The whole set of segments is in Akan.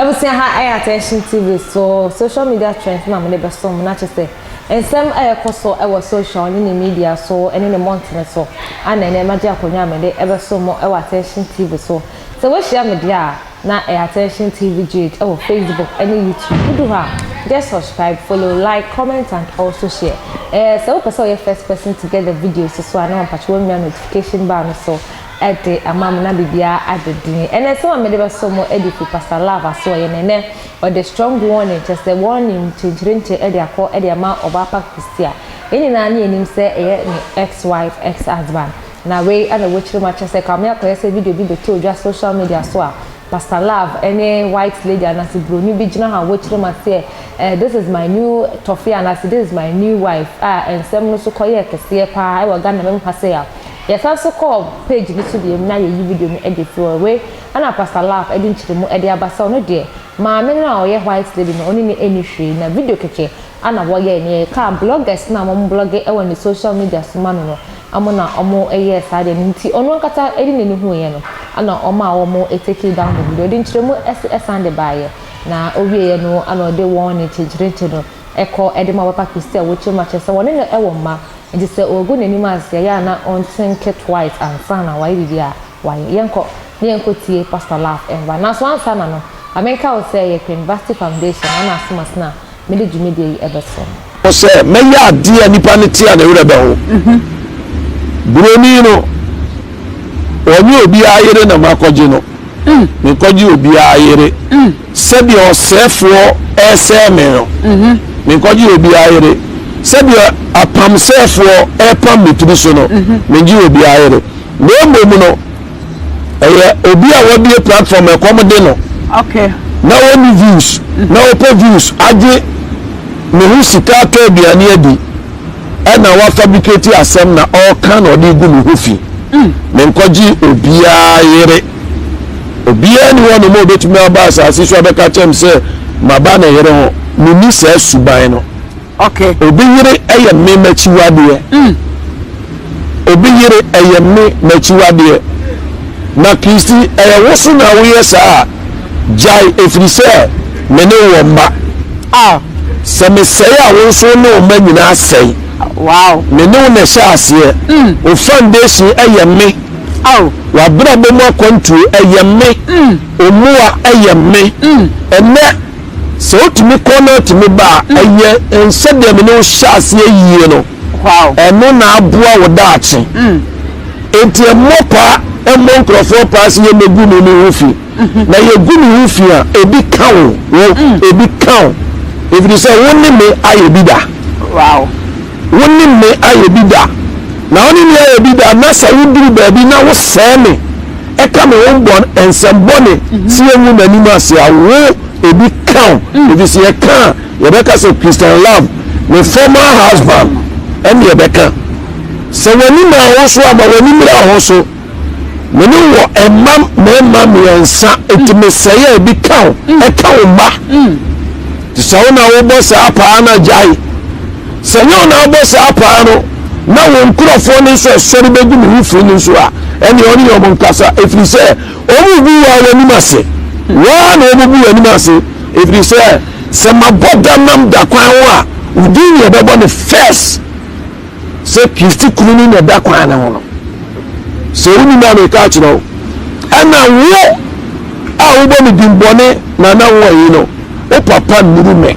abusua ha ɛyɛ attention tv so social media trends na wɔde bɛso mu na kyɛ sɛ nsɛm a ɛkɔ so ɛwɔ social ne ne media so ɛne ne mmɔntene so ana ɛnɛ ɛma gye akonnwa a mede ɛbɛso mu ɛwɔ attention tv so sɛ woahyia me deɛ a na ɛ attention tv jade ɛwɔ facebook ɛne youtube wodu hɔ a just subscribe follow like comment and also share ɛɛ sɛ wopɛ sɛ ɔyɛ first person to get the videos so a na ɔmpatwe wɔnwia notification bar no so ɛde ama mo na biribiara ada din ɛnɛ sɛ wɔn mede bɛso mo ɛde fi pastor love aso ɔyɛ nɛnɛ ɔde strong warning kyɛ sɛ warning kyenkyerenkye ɛde akɔ ɛde ama ɔbaa pa christia yɛn nyinaa ne yɛnim sɛ ɛyɛ ne ex wife ex husband Na wei na wokyerɛ mu akyerɛ sɛ kame akɔyɛ sɛ video bi bɛtɔ dwa social media so a Pastor Love ne white lady anaase broni bi gyina hɔ a wokyerɛ mu aseɛ eh this is my new tɔfeɛ anaase this is my new wife a nsɛm no so kɔyɛɛ kɛseɛ paa ɛwɔ Ghana mem ha sei a yɛsan so kɔɔ page no so biom na yɛyi video no de firi hɔ wei na Pastor Love de nkyerɛ mu de aba sɛ ɔno deɛ maame no a ɔyɛ white lady no ɔne no ɛnni hwee na video kɛkɛ Ana wɔyɛɛ nea ɛkaa bloggers no a wɔn blɔge wɔ ne social media so ma no no mo na wɔn yɛɛ saa deɛ no nti ɔno ankasa de nani huuiɛ no ana ɔmaa wɔn takee down the video de nkyerɛmu san de baeɛ na ɔwieɛ no ana ɔde wɔn ne kyenkyerenkye no kɔ de ma papa Christy a wɔkyɛ mu akyerɛ sɛ wɔne no wɔ mma nti sɛ ɔregu nanim ase ɛyɛ a na ɔnthink twice ansa na wayɛ biribi a wayɛ yɛnkɔ na yɛnkɔ tie pastor laugh ɛmba nanso ansa na no ma menka wo sɛ ɛyɛ Queen Vasti foundation ana asoma sena mede dwumadie yi bɛsom no. Sɛ mɛyɛ adeɛ a nipa no te a ne werɛ bɛho. Buroni no, ɔnyɛ obiara yere na makɔgye no. Menkɔgye obiara yere sɛdeɛ ɔsɛefoɔ resɛe me no. Menkɔgye obiara yere sɛdeɛ apamsɛefoɔ repam me tiri so no. Mengye obiara yere. Na mmom no. ɛyɛ obi a wabie platform ɛkɔm de no okay. na wɔni views na wɔpɛ views agye ne ho sika atɔ aduane adi ɛna wafabricate asɛm na ɔreka na ɔde gu ne ho fi mm. menkɔgye obiara yere obiara ni hɔ nom a obɛtumi aba asase so abɛka kyɛm sɛ maba ne yere ho menni saa suban no Okay. Obi yere yɛ me m'akyiwadeɛ. Mm. Obi yere yɛ me m'akyiwadeɛ. Na Kristi ɛyɛ wo so na woyɛ saa a, gyae ɛfiri sɛ me ne wɔ mma. Ah. Sɛ mesɛe a wo nso ne wo mma nyinaa sɛe. Wow. Me ne wo na ɛhyɛ aseɛ. Mm. Wo foundation yɛ me. Oh. W'abrabɔ mu akwantuo ɛyɛ me. Mm. Omoa ɛyɛ me. Mm. Ɛnɛ. Sɛ otumi kɔ na otumi ba a, mm. ɛyɛ nsɛ deɛ mene wohyɛ aseɛ yie no ɛno na aboa wo daakye mm. nti ɛmmɔ paa ɛmmɔ nkurɔfoɔ paa sɛ yɛmmɛgu ne ne ho fi mm-hmm. na yɛgu ne ho fi a ebi ka wo wo mm. ebi ka wo ɛfiri sɛ wo ne me ayɛ bi da wo ne me ayɛ bi da na wo ne me ayɛ bi da na sɛ woduru baabi na wosɛe me ɛka me ho bɔn nsɛm bɔne mm-hmm. sɛ yɛngu n'anim ase a wo ebi ka wo mm. ebi sɛ yɛka a yɛbɛka sɛ christian love ne former husband ɛne yɛbɛka sɛ w'ani ma ho so ama w'ani mmira ho so me ne wɔ ɛma mmarima mmiɛnsa eti me sɛ yɛ ebi ka wo mm. ɛka wo mma mm. te sɛ wo na wobɔ saa paa na gyae. Sɛ nyɛ wo na abɔ saa paa no, na wo nkurɔfoɔ no nso asɔre bɛgu ne ho fi no nso a, ɛnneɛ ɔne wɔn nkasa, ɛfiri sɛ wɔrebu wo ara w'anim ase. Wo ara na wɔbɛbu w'anim ase, ɛfiri sɛ sɛ mabɔ da nam da kwan ho a, wo din na wɔbɛbɔ no first sɛ Kristi kunu no na ɛda kwan no ho no. Sɛ wonim a meka akyerɛ wo, ɛna wo a wobɔ me din bɔne na na wo ayi no, wo papa nnuru me.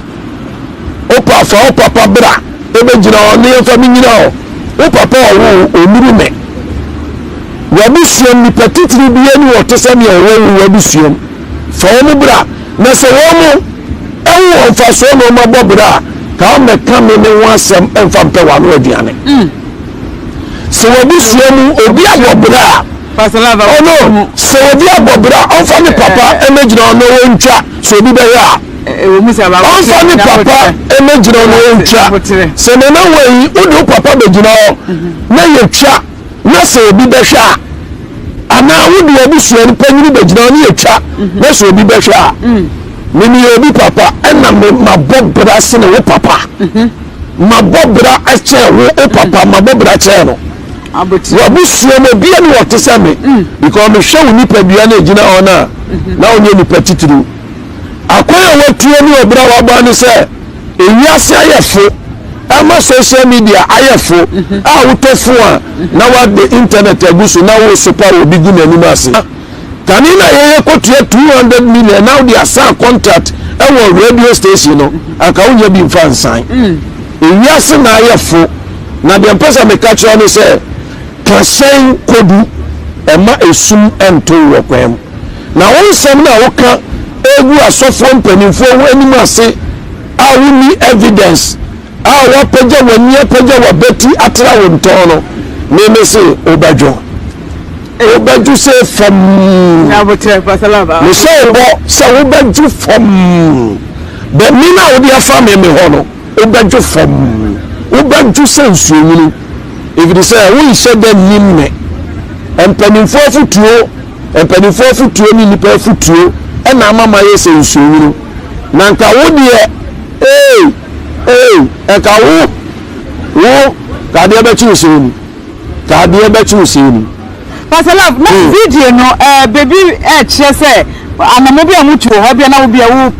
Opa fa wo papa bra ebɛgyina hɔ ne yɛmfa me nyina hɔ. Wo papa a ɔwoo wo ɔnnuru me. W'abusuam nipa titiri bi ani wɔ te sɛ nea ɔwɔ wo w'abusuam. Fa wɔn bra na sɛ wɔn mo ɛho wɔ mfasoɔ na wɔn abɔ bra a ka wɔn bɛka me ne ho asɛm mfa mpɛ w'ano aduane. Mm. Sɛ w'abusua mu obi abɔ bra a ɔno sɛ obi abɔ bra ɔmfa ne papa ɛmɛgyina ɔno wɔntwa sɛ obi bɛyɛ a ɔmfa ne papa mmɛgyina hɔ na ɔntwa sɛ nana wei wode wo papa bɛgyina hɔ na yɛtwa na sɛ obi bɛhwɛ a anaa wode abusua no panyini bɛgyina hɔ ne yɛtwa na sɛ obi bɛhwɛ a memeyɛ obi papa ɛna mabɔ bra sene wo papa mabɔ bra kyɛn wo wo papa mabɔ bra kyɛn no wabusua mu obia ne wɔte sɛ me because mehwɛ wo nipadua no agyina hɔ no a na wonyɛ nipa titiriw Akwan a wɔatua ne ɔbra a wɔabra ne sɛ ewiase ayɛ fo ɛma social media ayɛ fo mhm. a wotɔ fo a mhm. na wade internet agu so na wosopa wɔ bi gu n'anim ase kane na yɛyɛ kɔtua 200 million na wode asan contract ɛwɔ radio station no mhm. anka wonya bi mfa nsan mm. ewiase na ayɛ fo na deɛ mpɛ sɛ meka kyerɛ ne sɛ kahyɛn kodu ɛma esum nto wɔ kwan mu Na wo nsɛm no a woka gu asɔfoɔ mpanimfoɔ ho anim ase a wonni evidence a woapagya w'ani apagya w'abati atra wo ntɔn no, meme se wobɛdwo. Wobɛdwo sɛ fam. Mehyɛ wo bɔ sɛ wobɛdwo fam. Bɔne no a wode afa me me hɔ no, wobɛdwo fam. Wobɛdwo sɛ nsuonwunu, ɛfiri sɛ wonhyɛ da nnim me. Mpanimfoɔ afotuo. Mpanimfoɔ afotuo ne nnipa afotuo na ama mayɛ sɛ nsuonwunu. Na nka wo deɛ, ee, ee, nka wo, wo, ka adeɛ bɛkye wo sɛn ni, ka adeɛ bɛkye wo sɛn ni. Pastor Love, na video no, eh, baabi ɛrekyerɛ sɛ anamɔ bi a wɔtu wɔ hɔ, bia na wo bia wo.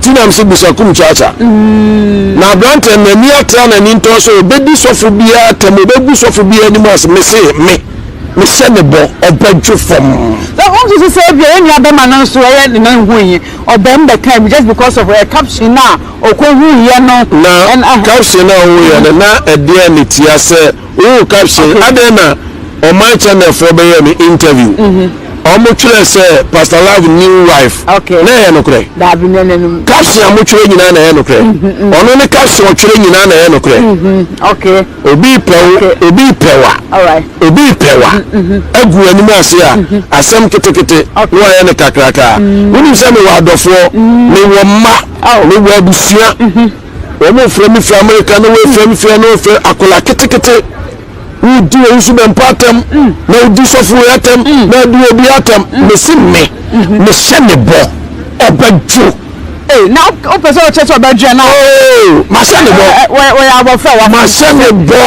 Tinam se Busakum Kyakya. Na aberanteɛ no n'ani ate a n'ani ntɔɔ sɛ ɔbɛdi sɔfo biara atɛm, ɔbɛgu sɔfo biara anim ase. Mese me, mehyɛ ne bɔ, ɔbɛdwo fam. Sɛ wonso se sɛ ebia yɛn nuabɛma no nso ɛyɛ ne nan huiɛ, ɔbɛm bɛkaa bi just because of ɛɛ caption no a ɔkɔhuiɛ no. Na caption no a ɔhuiɛ no, na ɛdeɛn ne tia sɛ Woo ka se adɛn na ɔman channel foɔ bɛyɛɛ no interview ɔmo twerɛ sɛ pastor love new wife na ɛyɛ nokorɛ? Caption a mo twerɛ nyinaa na ɛyɛ nokorɛ ɔno ne caption ɔtwerɛ nyinaa na ɛyɛ nokorɛ obi pɛwo obi pɛwa obi pɛwa agu w'anim ase a asɛm ketekete na wayɛ no kakrakaa wonim sɛ mewɔ adɔfoɔ mewɔ mma mewɔ abusua Wɔn frɛ me firi Amerika na wɔn frɛ me firi ɛna wɔfrɛ akwadaa ketekete. Wodi wɔn nso bɛn mpo atɛm mm. na wodi sɔfo wei atɛm mm. na adi obi atɛm. Mm. Mesi me mm-hmm. mehyɛ ne bɔ ɔbɛdwo. Ee na o pɛ sɛ o kyɛ sɛ ɔbɛdwo na. Oo mahyɛ ne bɔ. Eh, eh, wɔ yɛ abɔfra wa. Mahyɛ ne bɔ.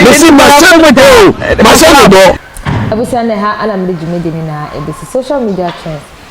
Mesi mahyɛ ne bɔ. Mahyɛ ne bɔ. Abusua ne ha ana mede dwumadi ne na ebesi social media trends